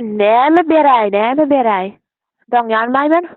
Näme beräý, näme beräý? Doňýaryn, Maýmyn.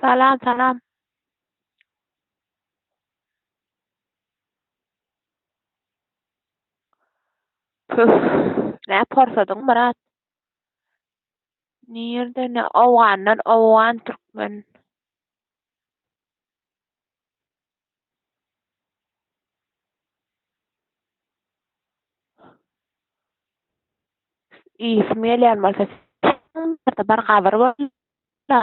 Salam salam. Püff, nä porsadyň Myrat. Nirde ne owgandan owgan türkmen. Iýesim gelýän bolsa bir gabyr bolsa.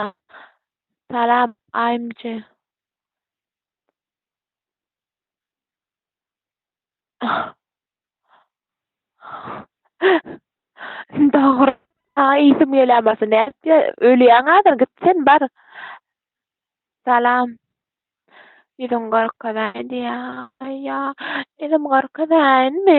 Salam Aýmje. Dogry. Saňa iýsim gelýän bolsa nätjä ölýäň hazir git sen bar. Salam. Ýüzüň gorkazaýdy ýa ýa ýüzüm gorkazaýynmy?